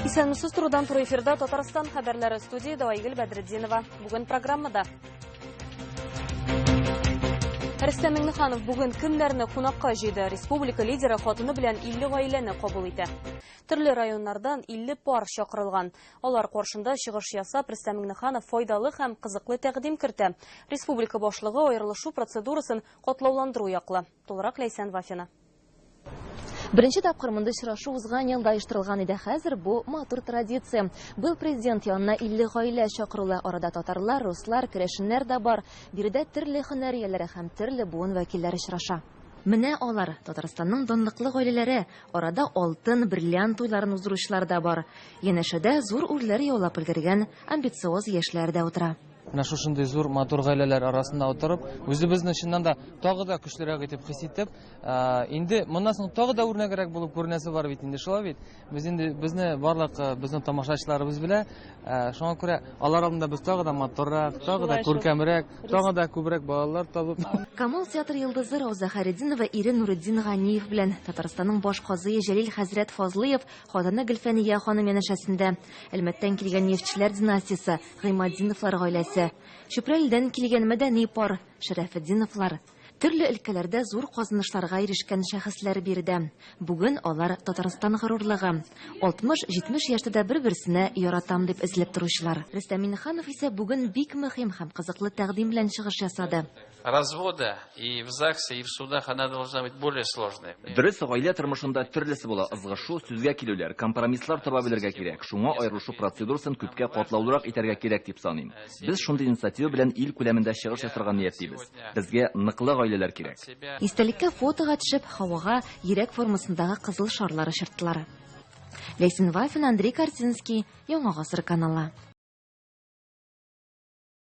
Исәнмесез турудан туры эфирда Татарстан хәбәрләре студияда Айгөл Бәдретдинова. Бүген программада Рөстәм Миңнеханов бүген кемнәрне кунакка җыйды? Республика лидеры хатыны белән 50 гаиләне кабул итә. Төрле районнардан 50 пар чакырылган. Алар каршында чыгыш ясап, Рөстәм Миңнеханов файдалы һәм кызыклы тәкъдим кертә. Республика башлыгы аерылышу процедурасын катлауландыру яклы. Тулырак Ләйсән Вафина. Беренче тапкыр мондый очрашу узган елда оештырылган иде, хәзер бу матур традиция. Быел президент янына 50 гаилә чакырулы. Арада татарлар, руслар, керәшеннәр дә бар. Биредә төрле һөнәр ияләре һәм төрле буын вәкилләре очраша. Менә алар, Татарстанның данлыклы гаиләләре, арада алтын, бриллиант туйларын уздыручылар да бар. Янәшәдә зур үрләр яулап өлгергән амбициоз яшьләр дә утыра. Менә шушындый зур, матур гаиләләр арасында утырып, үзебезне чыннан да тагы да көчлерәк итеп хис итеп, инде моннан соң тагы да үрнәгрәк булып күренәсе бар бит инде, шулай бит? Без инде безне барлык безнең тамашачыларыбыз белә, шуңа күрә алар алдында без тагы да матуррак, тагы да күркәмрәк, тагы да күбрәк балалар табып. Камал театр йолдызы Рауза Хайретдинова ире Нуретдин Ганиев белән Татарстанның баш казые Җәлил хәзрәт Фазлыев, хатыны Гөлфәния ханым янәшәсендә. Әлмәттән килгән нефтьчеләр династиясе, Гыйматдиновлар гаиләсе, Чүпрәледән килгән мәдәни пар, Шәрәфетдиновлар. Төрле өлкәләрдә зур казанышларга ирешкән шәхесләр биредә. Бүген алар, Татарстан горурлыгы. 60-70 яшьтә дә бер-берсенә яратам дип эзләп торучылар. Рөстәм Миннеханов исә бүген бик мөһим һәм кызыклы тәкъдим белән чыгыш ясады. развода и в ЗАГСе, и в судах она должна быть более сложной. Дөрес, гаилә тормышында төрлесе була. Ызгышу, сүзгә килүләр, компромисслар таба белергә кирәк. Шуңа аерылышу процедурасын күпкә катлаулырак итәргә кирәк дип саныйм. Без шундый инициатива белән ил күләмендә чыгыш ясарга ниятлибез. Безгә ныклы гаиләләр кирәк. Истәлеккә фотога төшеп, һавага йөрәк формасындагы кызыл шарлар очырттылар. Ләйсен Вафин, Андрей Корзинский, Яңа гасыр каналы.